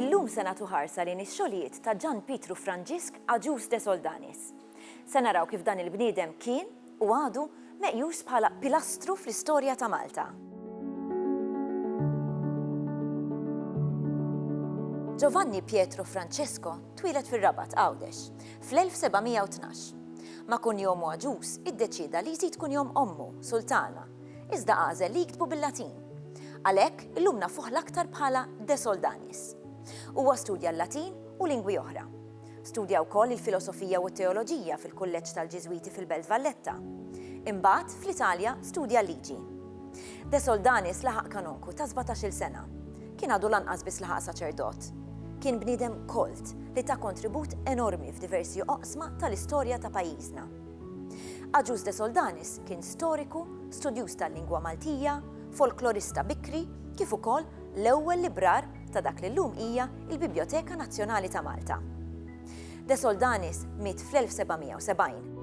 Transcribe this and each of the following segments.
Illum se nagħtu ħarsa lejn ix-xogħlijiet ta' Ġan Pietru Franġisk Agius de Soldanis. Se naraw kif dan il-bniedem kien, u għadu, meqjus bħala pilastru fl-istorja ta' Malta. Giovanni Pietro Francesco twieled fir-Rabat, Għawdex. Fl-1712, ma' kunjom għaġuż iddeċieda li jżid kunjom ommu, Sultana, iżda għażel li jiktbu bil-Latin. Għalhekk, illum nafuh l-aktar bħala De Soldanis. Huwa studja l-Latin u lingwi oħra. Studja wkoll il-filosofija u t-teoloġija fil-Kulleġġ tal-Ġiżwiti fil-Belt Valletta. Imbagħad, fl-Italja, studja l-liġi. De Soldanis laħaq kanonku ta' sbatax-il sena. Kien għadu lanqas biss laħaq saċerdot. Kien bniedem kolt li ta kontribut enormi f'diversi oqsma tal-istorja ta' pajjiżna. Agius De Soldanis kien storiku, studjuż tal-lingwa Maltija, folklorista bikri kif ukoll l-ewwel librar ta' dak li llum hija l-Bibjoteka Nazzjonali ta' Malta. De Soldanis miet fl-1770.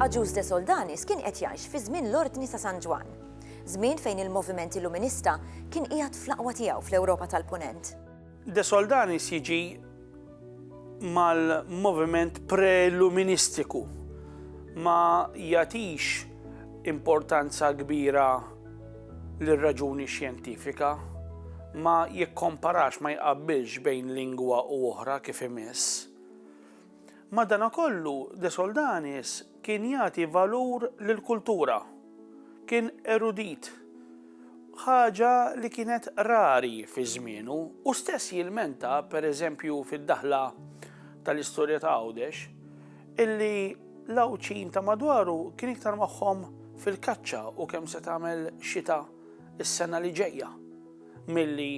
Agius De Soldanis kien qed jgħix fi żmien l-Ordni ta' San Ġwann, żmien fejn il-moviment Illuminista kien qiegħed fl-aqwa tiegħu fl-Ewropa tal-Punent. De Soldanis jiġi mal-moviment pre-Illuministiku ma jagħtix importanza kbira lir-raġuni xjentifika, ma jikkomparax, ma jqabbilx bejn lingwa u oħra kif imiss. Madanakollu, De Soldanis Kien jagħti valur lill-kultura. Kien erudit, ħaġa li kienet rari fi żmienu. Hu stess jilmenta, per eżempju fid-daħla tal-istorja ta' Għawdex, illi l-Għawdxin ta' madwaru kien iktar magħhom fil-kaċċa u kemm se tagħmel xita s-sena li ġejja milli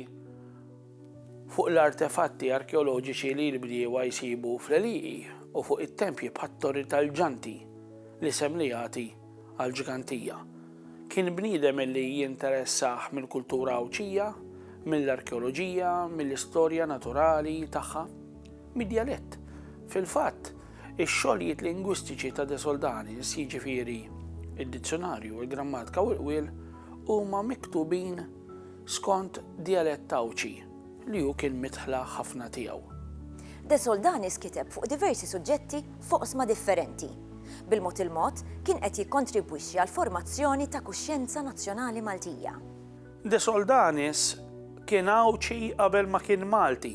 fuq l-artefatti arkeoloġiċi li l-bdiewa jsibu fl-għelieqi u fuq it-tempji bħat-Torri tal-Ġanti, l-isem li jagħti għall-ġgantija. Kien bniedem li jinteressah mill-kultura Għawdxija, mill-arkeoloġija, mill-istorja naturali tagħha, mid-djalett. Fil-fatt, ix-xogħlijiet lingwistiċi ta' De Soldanis, jiġifieri d-dizzjunarju, il-grammatika u l-qwiel, huma miktubin skont djalett Għawdxi li hu kien midħla ħafna tiegħu. De Soldanis kiteb fuq diversi suġġetti f'oqsma differenti. Bil-mod il-mod, kien qed jikkontribwixxi għall-formazzjoni ta' kuxjenza nazzjonali Maltija. De Soldanis kien Għawdxi qabel ma kien Malti.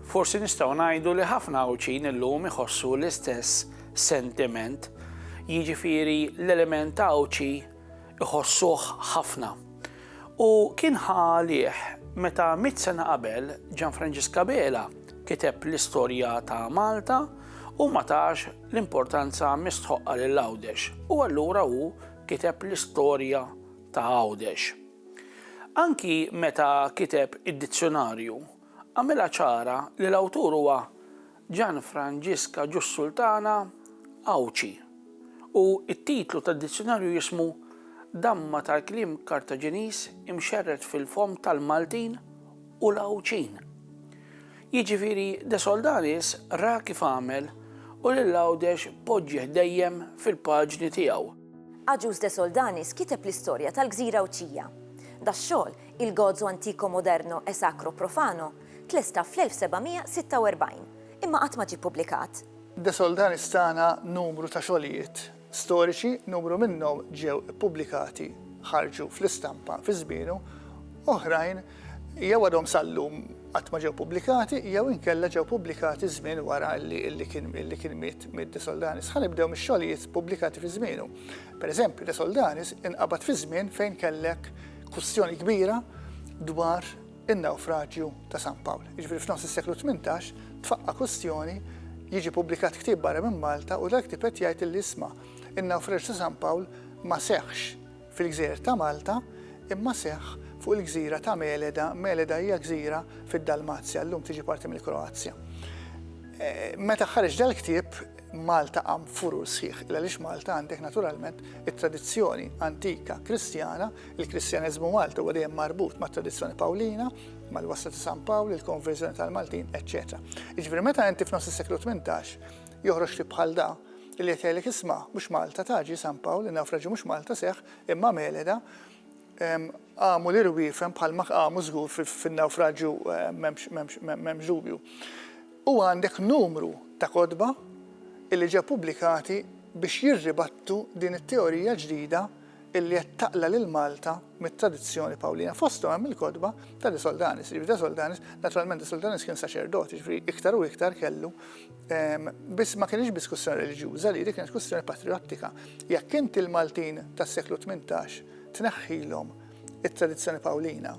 Forsi nistgħu ngħidu li ħafna Għawdxin illum iħossu l-istess sentiment, jiġifieri l-element Għawdxi iħossuh ħafna. U kien ħa għalih meta mitt sena qabel Gian Franġiska Bela kiteb l-istorja ta' Malta u ma tax l-importanza mistħoqqa lil Għawdex u allura hu kiteb l-istorja ta' Għawdex. Anki meta kiteb id-dizzjonarju għamilha ċara li l-awtur huwa Gianfrangisca Giussultana Għawdxi u t-titlu tad-dizzjunarju jismu Damma tal-kliem Kartaġiniż imxerred fil-fomm tal-Maltin u l-Għawdxin. Jiġifieri De Soldanis ra kif għamel u lil Għawdex poġġieh dejjem fil-paġni tiegħu. Agius De Soldanis kiteb l-istorja tal-gżira Għawdxija. Dax-xogħol, Il Gozo Antico Moderno e Sacro Profano, Tlesta fl-1746, imma qatt ma ġie ppubblikat. De Soldanis tana numru ta' xogħlijiet storiċi, numru minnhom ġew ippubblikati, ħarġu fl-istampa fi żmienu, oħrajn jew għadhom sal-lum qatt ma ġew pubblikati jew inkella ġew pubblikati żmien wara li kien miet miet De Soldanis. Ħa nibdew mix-xogħlijiet ppubblikati fi żmienu. Pereżempju, De Soldanis inqabad fi żmien fejn kellek kwistjoni kbira dwar in-nawfraġju ta' San Pawl. Jiġifieri f'nofs is-seklu tmintax tfaqqa' kwistjoni jiġi pubblikat ktieb barra minn Malta u dal-ktieb qed jgħid illi isma' in-nawfraġju ta' San Pawl ma seħħx fil-gżejjer ta' Malta imma seħħ fuq il-gżira ta' Meleda, Meleda hija gżira fid-Dalmazja, llum tiġi parti mill-Kroazja. Meta ħareġ dal-ktieb Malta qam furur sħiħ il għaliex Malta għandek naturalment it-tradizzjoni antika Kristjana Il-Kristjaneżmu Malti huwa dejjem marbut mat-tradizzjoni Pawlina, mal-wasla ta' San Pawl, il-konverżjoni tal-Maltin, eċċetera. Jiġifieri meta inti f'nofs is-seklu 18 joħroġ ktib bħal da, li qed jgħidlek isma' mhux Malta ta' ġie San Pawl, in-nawfraġju mhux Malta seħħ, imma Meleda, qamu l-irwiefen bħalma qamu żgur fin-nawfraġju m'hemmx dubju. U għandek numru ta' kotba li ġew pubblikati biex jirribattu din it-teorija ġdida illi qed taqla' lil Malta mit-tradizzjoni Pawlina. Fosthom hemm il-kotba ta' De Soldanis, jiġifieri De Soldanis, naturalment De Soldanis kien saċerdot, jiġifieri iktar u iktar kellu, biss ma kinitx biss kwistjoni reliġjuża li, din kienet kwistjoni patrijottika. Jekk inti l-Maltin tas-seklu tmintax tneħħilhom it-tradizzjoni Pawlina,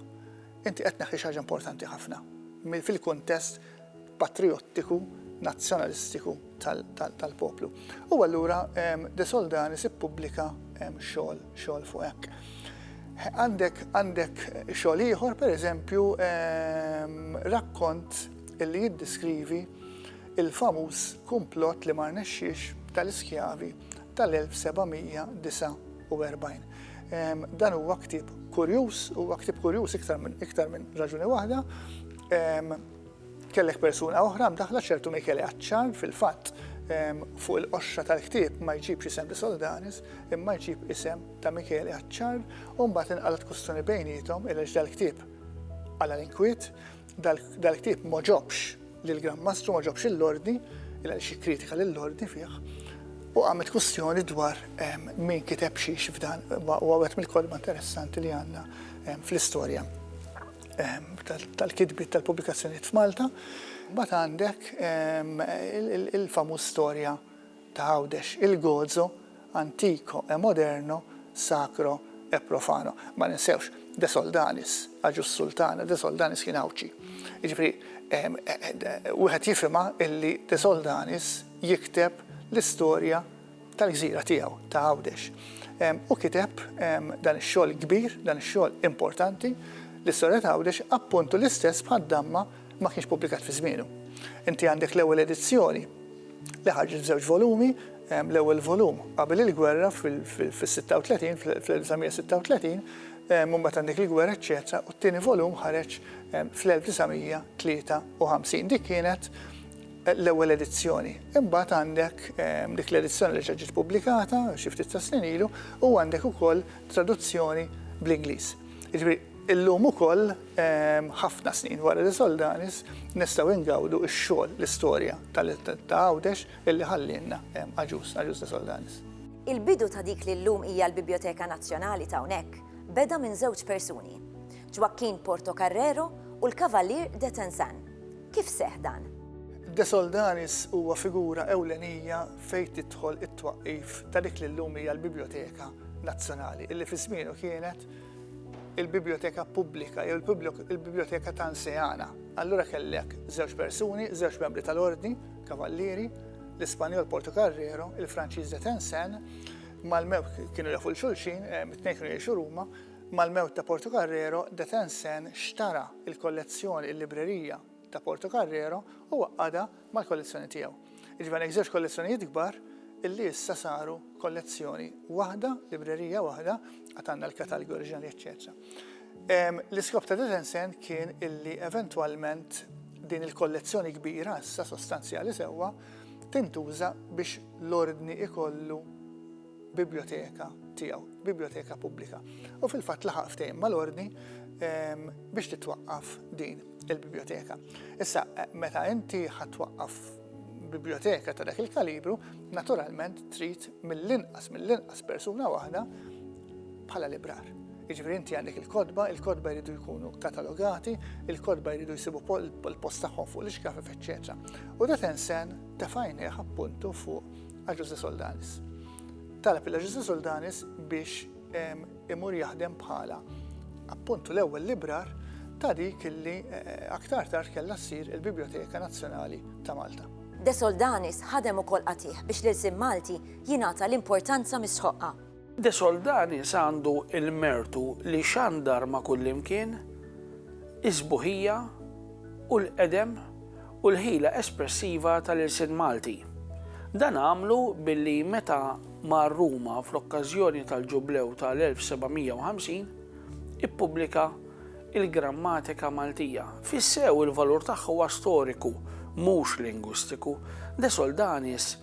inti qed tneħħi xi ħaġa importanti ħafna fil-kuntest patrijottiku, nazzjonalistiku tal-poplu. U allura De Soldanis ippubblika xogħol xogħol fuq hekk. Għandek għandek xogħol ieħor, pereżempju, rakkont li jiddiskrivi il-famuż kumplott li ma rnexxiex tal-iskjavi tal-1749. Dan huwa ktieb kurjuż, huwa ktieb kurjuż iktar minn iktar minn raġuni waħda, Kellek persuna oħra mdaħħla ċertu Michele Acciar, fil-fatt fuq il-qoxra tal-ktieb ma jġibx isem De Soldanis, imma jġib isem ta' Michele Acciar, u mbagħad inqalgħet kwistjoni bejniethom il dal-ktieb għala l-inkwiet, dal-ktieb ma ġobx lil Gran Mastru ma ġobx l-ordni, il xi kritika lill-ordni fih, u għamet kwistjoni dwar min kiteb xiex f'dan, u għawet mill-kolma interessanti li għandna fl-istorja. tal-kitbiet tal-pubblikazzjonijiet f'Malta, mbagħad għandek il-famuż storja ta' Għawdex, il-gozo antico e moderno, sacro e profano. Ma ninsewx, De Soldanis, Agius Sultana, De Soldanis kien Għawdxi. Jiġifieri wieħed jifhimha illi De Soldanis jikteb l-istorja tal-gżira tiegħu ta' Għawdex. U kiteb dan ix-xogħol kbir, dan ix-xogħol importanti, l-istorja ta' Għawdex appuntu l-istess bħad-damma ma kienx pubblikat fi żmienu. Inti għandek l-ewwel edizzjoni li ħarġet f'żewġ volumi, l-ewwel volum qabel il-gwerra fil-36, fil-1936, mbagħad għandek il-gwerra, eċċetera, u t-tieni volum ħareġ fl-1953. Dik kienet l-ewwel edizzjoni. Imbagħad għandek dik l-edizzjoni li reġa' ġiet pubblikata xi ftit tas-snin ilu u għandek ukoll traduzzjoni bl-Ingliż. Jiġifieri illum ukoll ħafna snin wara li Soldanis nistgħu ingawdu x-xogħol, l-istorja ta' Għawdex illi ħallielna Agius, Agius de Soldanis. Il-bidu ta' dik li llum hija l-Bibjoteka Nazzjonali ta' hawnhekk beda minn żewġ persuni, Joaquin Portocarrero u l-Cavalier de Tensan. Kif seħħ dan? De Soldanis huwa figura ewlenija fejn tidħol it-twaqqif ta' dik li llum hija l-Bibljoteka Nazzjonali, illi fi żmienu kienet il-Bibljoteka Pubblika jew il-Bibljoteka ta' Nseana. Allura kellek żewġ persuni, żewġ membri tal-Ordni, Kavallieri, l-Ispanjol Porto Carrero, il-Franċiż de Tensen, mal-mewk kienu jafu l-xulxin, eh, mit-tnejn kienu jiexu Ruma, Mal-mewt ta' Portocarrero, De Tencin xtara l-kollezzjoni, il-librerija, ta' Portocarrero u għaqqadha mal-kollezzjoni tiegħu. Jiġifieri għandek żewġ kollezzjonijiet kbar li issa saru kollezzjoni waħda, librerija waħda, għad għandna l-katalgi oriġinali eċċetera. L-iskop ta' De Tencin kien illi eventwalment din il-kollezzjoni kbira issa sostanzjali sewwa tintuża biex l-Ordni jkollu, biblioteka tiegħu, biblioteka pubblika. U fil-fatt laħaq ftehim mal-ordni ehm, biex titwaqqaf din il-biblioteka. Issa, eh, meta inti ħatwaqqaf biblioteka ta' dak il-kalibru, naturalment trid mill-inqas mill-inqas persuna waħda bħala librar. Iġveri inti għandek il-kodba, il-kodba jridu jkunu katalogati, il-kodba jridu jisibu l-post tagħhom fuq l-iskafif, eċċetera. U da tensen tefajni appuntu fuq għal Jose Soldanis. Talab il Jose Soldanis biex imur jaħdem bħala appuntu l-ewwel librar ta' dik illi eh, aktar tard kellha ssir il-Biblioteka Nazzjonali ta' Malta. De Soldanis ħadem ukoll qatih biex l-ilsim Malti jingħata l-importanza mis-sħoqqa. De Soldanis għandu l-mertu li xandar ma' kullimkien is-sbuħija u l-qedem u l-ħila espressiva tal-ilsien Malti. Dan għamlu billi meta mar Ruma fl-okkażjoni tal-Ġublew tal-1750, ippubblika l-Grammatika Maltija. Fis-sew il-valur tagħha huwa storiku, mhux lingwistiku. De Soldanis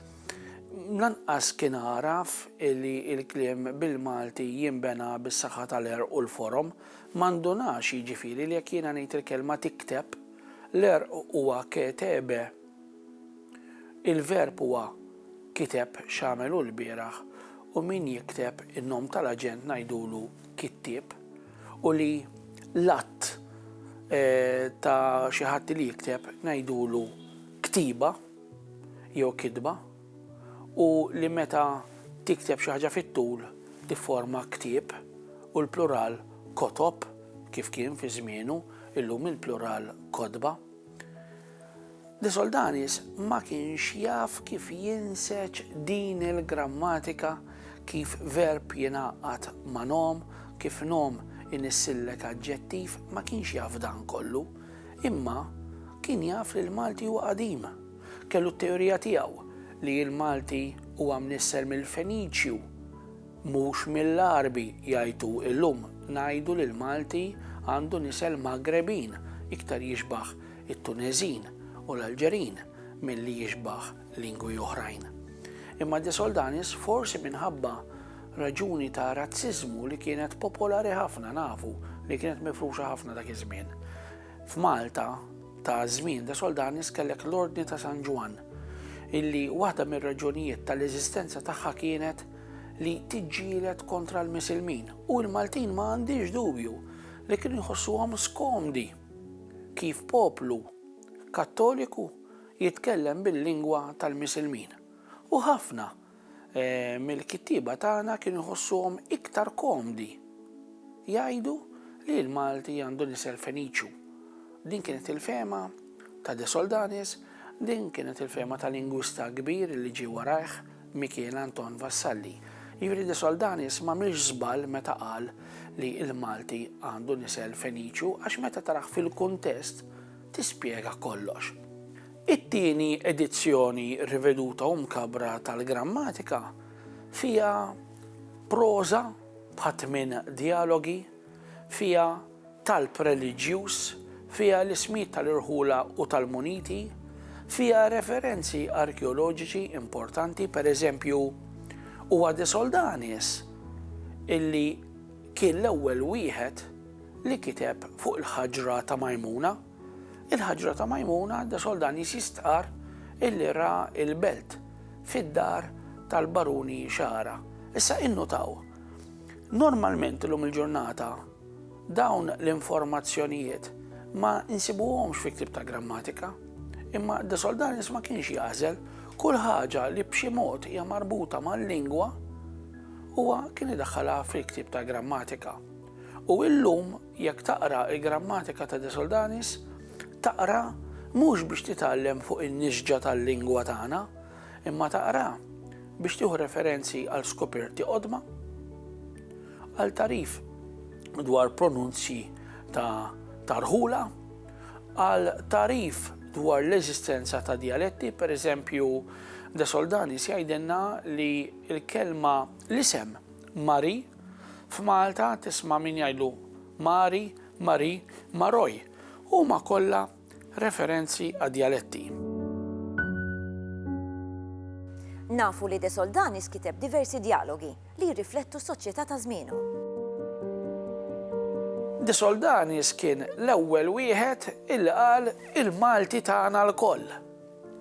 Lanqas kien għaraf li l-kliem bil-Malti jinbena bis-saħħa tal-għerq u l-forom. Ma ndunax, jiġifieri, li jekk jiena ngħid il-kelma tikteb, l-għerq huwa ketebe, il-verb huwa kiteb x'għamel hu lbieraħ u min jikteb in-nom tal-aġent ngħidulu kittieb u li l-att ta' xi ħadd li jikteb ngħidulu ktieba. jew kitba, u li meta tikteb xi ħaġa fit-tul tifforma ktieb, u l-plural kotob, kif kien fi żmienu, illum il-plural kotba. De Soldanis ma kienx jaf kif jinseġ din il-grammatika kif verb jingħaqqad ma' nom, kif nom inissillek aġġettiv, ma kienx jaf dan kollu. Imma kien jaf li l-Malti huwa qadim. Kellu t-teorija tiegħu li l-Malti huwa mnisser mill-Feniċju, mhux mill-Għarbi, jgħid hu, illum ngħidu li l-Malti għandu nisel Magrebin, iktar jixbah it-Tuneżin u l-Alġerin milli jixbah lingwi oħrajn. Imma De Soldanis forsi minħabba raġuni ta' razziżmu li kienet popolari ħafna nafu li kienet mifruxa ħafna dak iż-żmien. F'Malta ta' żmien De Soldanis kellek l-Ordni ta' San Ġwan illi waħda mir-raġunijiet tal-eżistenza tagħha kienet li tiġġielet kontra l-Misilmin u l-Maltin ma għandix dubju li kien jħossuhom skomdi kif poplu kattoliku jitkellem bil-lingwa tal-Misilmin, u ħafna mill-kittieba tagħna kienu jħossuhom iktar komdi jgħidu li l-Malti għandhom isem Feniċju. Din kienet il-fehma ta' De Soldanis, din kienet il-fehma ta' lingwista kbir li ġie warajh, Mikiel Anton Vassalli. Jiġifieri De Soldanis m'għamilx żball meta qal li l-Malti għandhom isem Feniċju għax meta tarah fil-kuntest, tispjega kollox. It-tieni edizzjoni riveduta u mkabbra tal-Grammatika fiha proża bħat tmien djalogi, fiha talb reliġjuż, fiha l-ismijiet tal-irħula u tal-muniti, fiha referenzi arkeoloġiċi importanti, per eżempju, huwa De Soldanis illi kien l-ewwel wieħed li kiteb fuq il-ħaġra ta' Majmuna, il-ħaġra ta' Majmuna de Soldanis jistqarr illi ra l-belt fid-dar tal-Baruni Xagħra. Issa innutaw, normalment illum il-ġurnata dawn l-informazzjonijiet ma nsibuhomx fi ktieb ta' grammatika, imma de Soldanis ma kienx jagħżel kull ħaġa li b'xi mod hija marbuta mal-lingwa huwa kien idaħħalha fil-ktieb ta' grammatika. U illum jekk taqra il-Grammatika ta' De Soldanis, taqra mhux biex titgħallem fuq in-nisġa tal-lingwa tagħna, imma taqra biex tieħu referenzi għal skoperti qodma, għal tarif dwar pronunzji ta' tarħula, għal tarif dwar l-eżistenza ta' dialetti, per eżempju, De Soldani sjajdenna li l-kelma l-isem Mari F'Malta tisma' min jgħidlu Mari, Marie, Maroj, huma kollha referenzi għad-djaletti. Nafu li De Soldanis kiteb diversi djalogi li jirriflettu s-soċjetà ta' żmienu. De Soldanis kien l-ewwel wieħed illi qal il-Malti tagħna lkoll.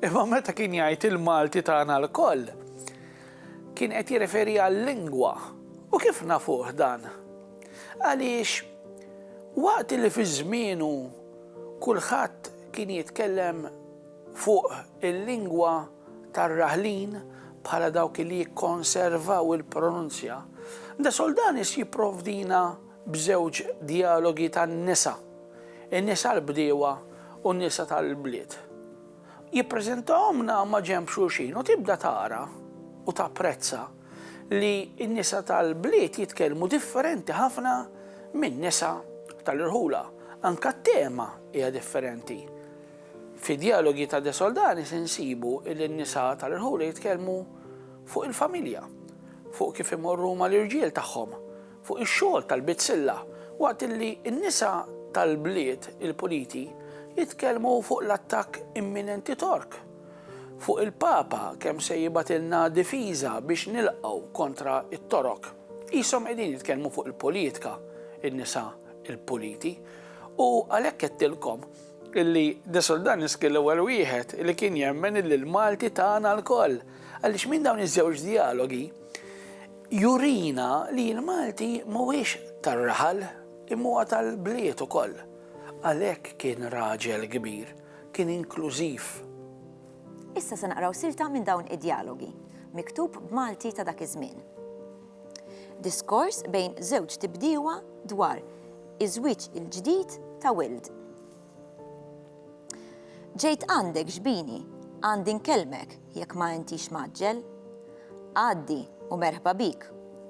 Imma meta kien jgħid il-Malti tagħna lkoll, Kien qed jirreferi għal-lingwa. U kif nafuh dan? Għaliex waqt li fi żmienu kulħadd kien jitkellem fuq il-lingwa tar-raħlin bħala dawk li jikkonservaw il-pronunzja, De Soldanis jipprovdina b'żewġ djalogi tan-nisa, in-nisa l-bdiewa u n-nisa tal-bliet. Jippreżentahomlna maġenb xulxin u tibda tara u tapprezza li n-nisa tal-bliet jitkellmu differenti ħafna min-nisa tal-irħula. Anke t-tema hija differenti. Fi Dialogi ta' De Soldanis insibu li n-nisa tal-irħula jitkellmu fuq il-familja, fuq kif imorru mal-irġiel tagħhom, fuq ix-xogħol tal-bizzilla waqt li n-nisa tal-bliet il-puliti jitkellmu fuq l-attakk imminenti Tork, fuq il-Papa kemm se jibgħatilna difiża biex nilqgħu kontra t-Torok. Qishom qegħdin jitkellmu fuq il-politika n-nisa l-puliti u għalhekk għedtilkom illi De Soldanis kien l-ewwel wieħed li kien jemmen illi l-Malti tagħna lkoll għaliex minn dawn iż-żewġ djalogi jurina li l-Malti mhuwiex tar-raħal imma huwa tal-bliet ukoll. Għalhekk kien raġel kbir, kien inklużiv. Issa se naqraw silta minn dawn id-djalogi, miktub b'Malti ta' dak iż-żmien. Diskors bejn żewġ tibdiewa dwar iż-żwieġ il-ġdid ta' Wild. Ġejt għandek xbini, għandi nkellmek jekk ma intix mgħaġġel. Għaddi u merħba bik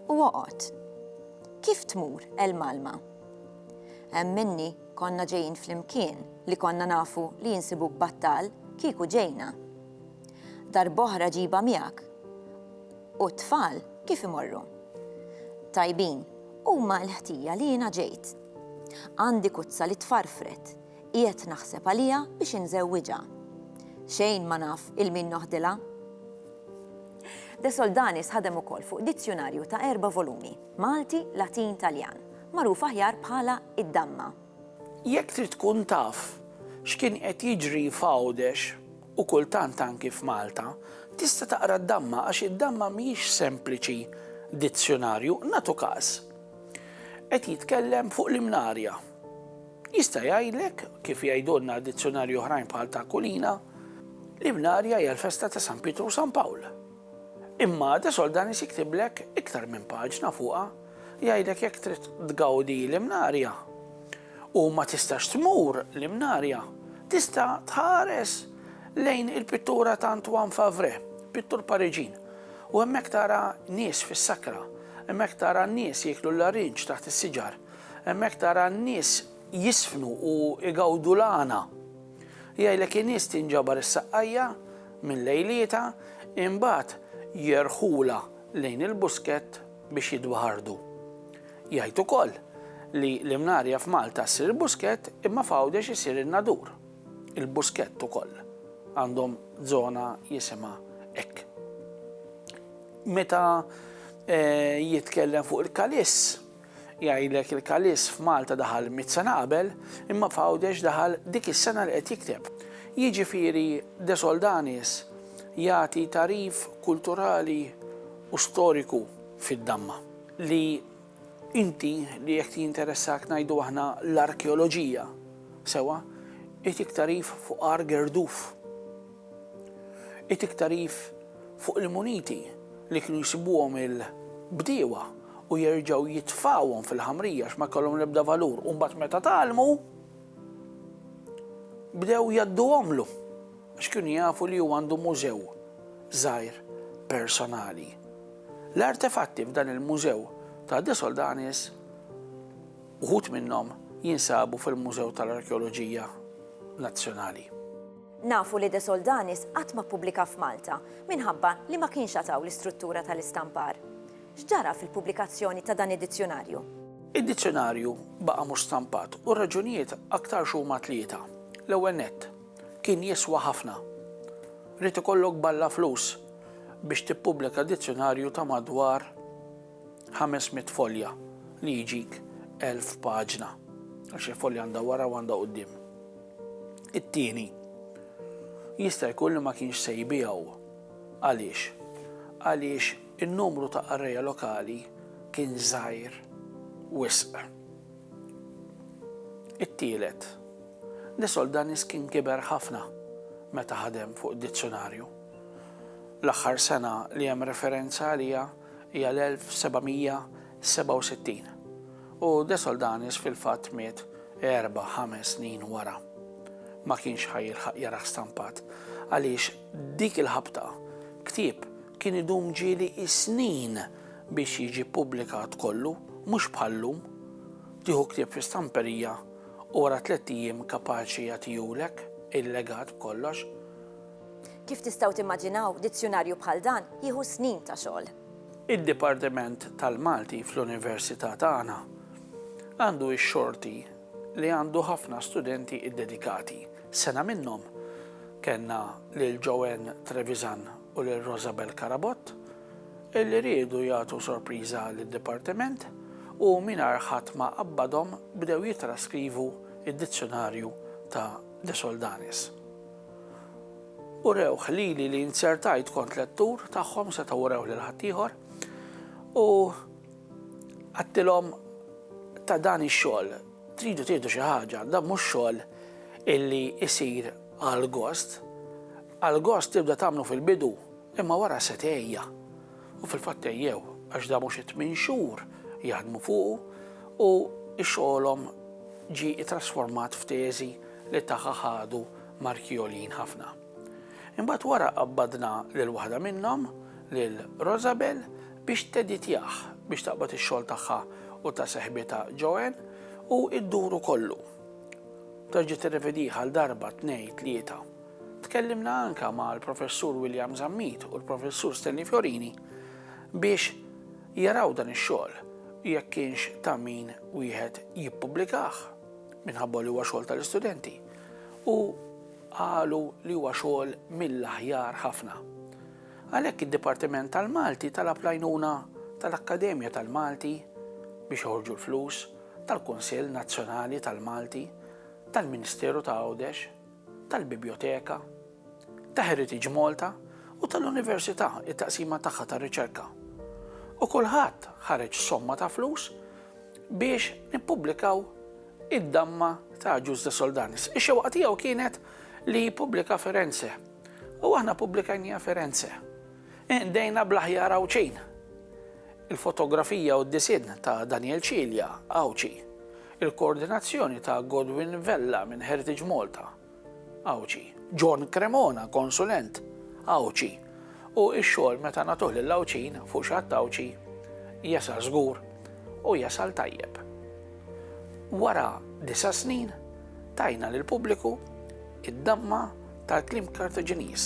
u oqgħod. Kif tmur l-malma? Hemm minni konna ġejjin flimkien li konna nafu li jinsibuk battal kieku ġejna. Darb'oħra ġibha miegħek. U t-tfal kif imorru? Tajbin, huma l-ħtija li jiena ġejt. Għandi kuzza li tfarfret, qiegħed naħseb għaliha biex inżewwiġha. Xejn ma naf 'il min noħdilha. De Soldanis ħadem ukoll fuq dizzjunarju ta' erba' volumi, Malti, Latin, Taljan, magħruf aħjar bħala Id-Damma. Jekk trid tkun taf x'kien qed jiġri f'Għawdex u kultant anki f'Malta, tista' taqra d-Damma għax id-Damma mhijiex sempliċi dizzjunarju. Nagħtu każ. Qed jitkellem fuq l-imnarja. Jista' jgħidlek, kif jgħidulna dizzjonarji oħrajn bħal ta' Kulina, l-imnarja hija l-festa ta' San Pietru u San Pawl. Imma De Soldanis jiktiblek iktar minn paġna fuqha, jgħidlek jekk trid tgawdi l-imnarja u ma tistax tmur l-imnarja, tista' tħares lejn il-pittura ta' Antoine Favre, pittur Pariġin, u hemmhekk tara nies fis-sakra Hemmhekk tara n-nies jieklu l-larinġ taħt is-siġar. Hemmhekk tara n-nies jiżfnu u jgawdu l-għana. Jgħidlek in-nies tinġabar is-saqqajja minn lejlietha, imbagħad jerħulha lejn il-buskett biex jitbaħardu. Jgħid ukoll li l-imnarja f'Malta ssir il-buskett imma f'Għawdex isir in-nadur. Il-Buskett ukoll għandhom żona jisimha hekk. Meta jitkellem fuq il-Kalis, jgħidlek il-Kalis f'Malta daħal mitt sena qabel, imma f'Għawdex daħal dik is-sena li qed jikteb. Jiġifieri De Soldanis jagħti tagħrif kulturali u storiku fid-damma li Inti li jekk jinteressak ngħidu aħna l-arkeoloġija, sewwa, itik tagħrif fuq għar Gerduf. Itik tagħrif fuq il-muniti li kienu jsibuhom il-bdiewa u jerġgħu jitfgħuhom fil-ħamrija għax ma kellhom l-ebda valur u mbagħad meta tgħallmu bdew jgħadduhomlu. għax kienu jafu li hu għandu mużew żgħir personali. L-artefatti f'dan il-mużew ta' De Soldanis uħud minnhom jinsabu fil-Mużew tal-Arkeoloġija Nazzjonali. Nafu li De Soldanis qatt ma ppubblika f'Malta minħabba li ma kienx għataw l-istruttura tal-istampar. X'ġara fil-pubblikazzjoni ta' dan id-dizzjunarju? Id-dizzjunarju baqa' mhux stampat u r-raġunijiet aktarx huma tlieta. L-ewwel nett, Kien jiswa ħafna. Ried ikollok balla flus biex tippubblika dizzjunarju ta' madwar ħames mitt folja li jġik elf paġna, għax il-folja għandha wara u għandha quddiem. It-tieni, jista' jkun li ma kienx se jbiegħu. Għaliex? Għaliex in-numru ta' qarrejja lokali kien żgħir wisq. It-tielet, Desoldanis kien kiber ħafna meta ħadem fuq id-dizzjunarju. L-aħħar sena li hemm referenza għaliha hija l-1767, u Desoldanis fil-fatt miet erba', ħames snin wara. Ma kienx ħa jilħaq jarah stampat, għaliex dik il-ħabta ktieb kien idum ġieli s-snin biex jiġi ppubblikat kollu, mhux bħal-lum, tieħu ktieb fi stamperija, U wara tlett ijiem kapaċi jagħtihulek il-legat b'kollox. Kif tistgħu timmaġinaw, dizzjunarju bħal dan jieħu snin ta' xogħol. Id-Dipartiment tal-Malti fl-Università tagħna għandu x-xorti li għandu ħafna studenti ddedikati. Sena minnhom kellna lil Joanne Trevisan u lil Rosabel Carabott illi riedu jagħtu sorpriża lid-Dipartiment u mingħajr ħadd ma qabbadhom bdew jittraskrivu d-Dizzjunarju ta' De Soldanis. Urewh lili li inzertajt kont lettur tagħhom setgħu urewh lil ħaddieħor u għattilhom ta' dan ix-xogħol tridu tieħdu xi ħaġa, dan mhux xogħol illi jsir għal gost, Għal gost tibda tagħmlu fil-bidu, imma wara se tgħejja. U fil-fatt għejjew, għax da mhux it-tmien xhur jaħdmu fuqu u xogħolhom ġie ittrasformat f'teżi li tagħha ħadu marki għoljin ħafna. Imbagħad wara qabbadna lil waħda minnhom, lil Rosabel, biex teditjah biex taqbad ix-xogħol tagħha u ta' seħbitha Joanne u dduru kollu. Terġa' tirrevedih għal darba, tnejn, tlieta. Tkellimna anke mal-Professur William Zammit u l-Professur Stanley Fiorini biex jaraw dan ix-xogħol jekk kienx ta' min wieħed jippubblikah minħabba li huwa xogħol tal-istudenti u qalu li huwa xogħol mill-aħjar ħafna. Għalhekk id-Dipartiment tal-Malti talab l-għajnuna tal-Akkademja tal-Malti biex joħorġu l-flus tal-Kunsill Nazzjonali tal-Malti tal-Ministeru ta' Għawdex tal-Bibljoteka, ta' Heritage Malta u tal-Università t-taqsima tagħha tar-riċerka. U kulħadd ħareġ somma ta' flus biex nippubblikaw id-damma ta' Agius de Soldanis. Ix-xewqa tiegħu kienet li jippubblika Firenze. U aħna pubblikajnija Firenze. Indejna bl-aħjar Għawdxin. Il-fotografija u d-disinn ta' Daniel Cilia, Għawdxi. Il-koordinazzjoni ta' Godwin Vella minn Heritage Malta, Għawdxi, John Cremona, konsulent, Għawdxi, u x-xogħol meta nagħtuh lil Għawdxin fuq xi ħadd Għawdxi jasal żgur u jasal tajjeb. Wara disa' snin tajna lill-pubbliku id-damma tal-kliem Kartaġiniż,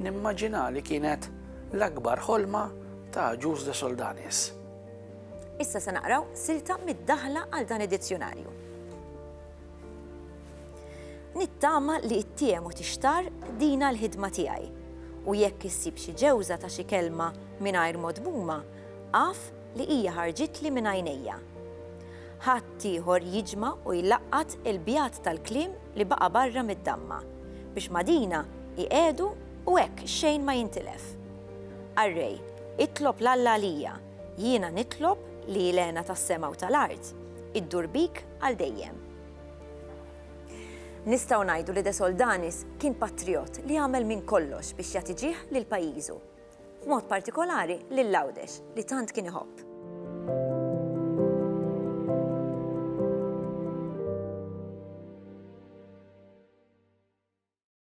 nimmaġina li kienet l-akbar ħolma ta' Agius de Soldanis. Issa se naqraw silta mid-daħla għal dan id-dizzjunarju. Nittama li ittiem u tixtar dina l-ħidma tiegħi u jekk issib xi ġewża ta' xi kelma mingħajr modmuma, għaf li hija ħarġitli minn għajnejja. Ħadd ieħor jiġma u jlaqqat il-bjat tal-kliem li baqa' barra mid-damma biex madina iqegħdu u hekk xejn ma jintilef. Arrej, itlob l-Alla għalija Jiena nitlob li l-hena tas-sema u tal-art iddur bik għal dejjem. Nistgħu ngħidu li De Soldanis kien patrijott li għamel minn kollox biex jagħti ġieħ lil pajjiżu. B'mod partikolari lil Għawdex li tant kien iħobb.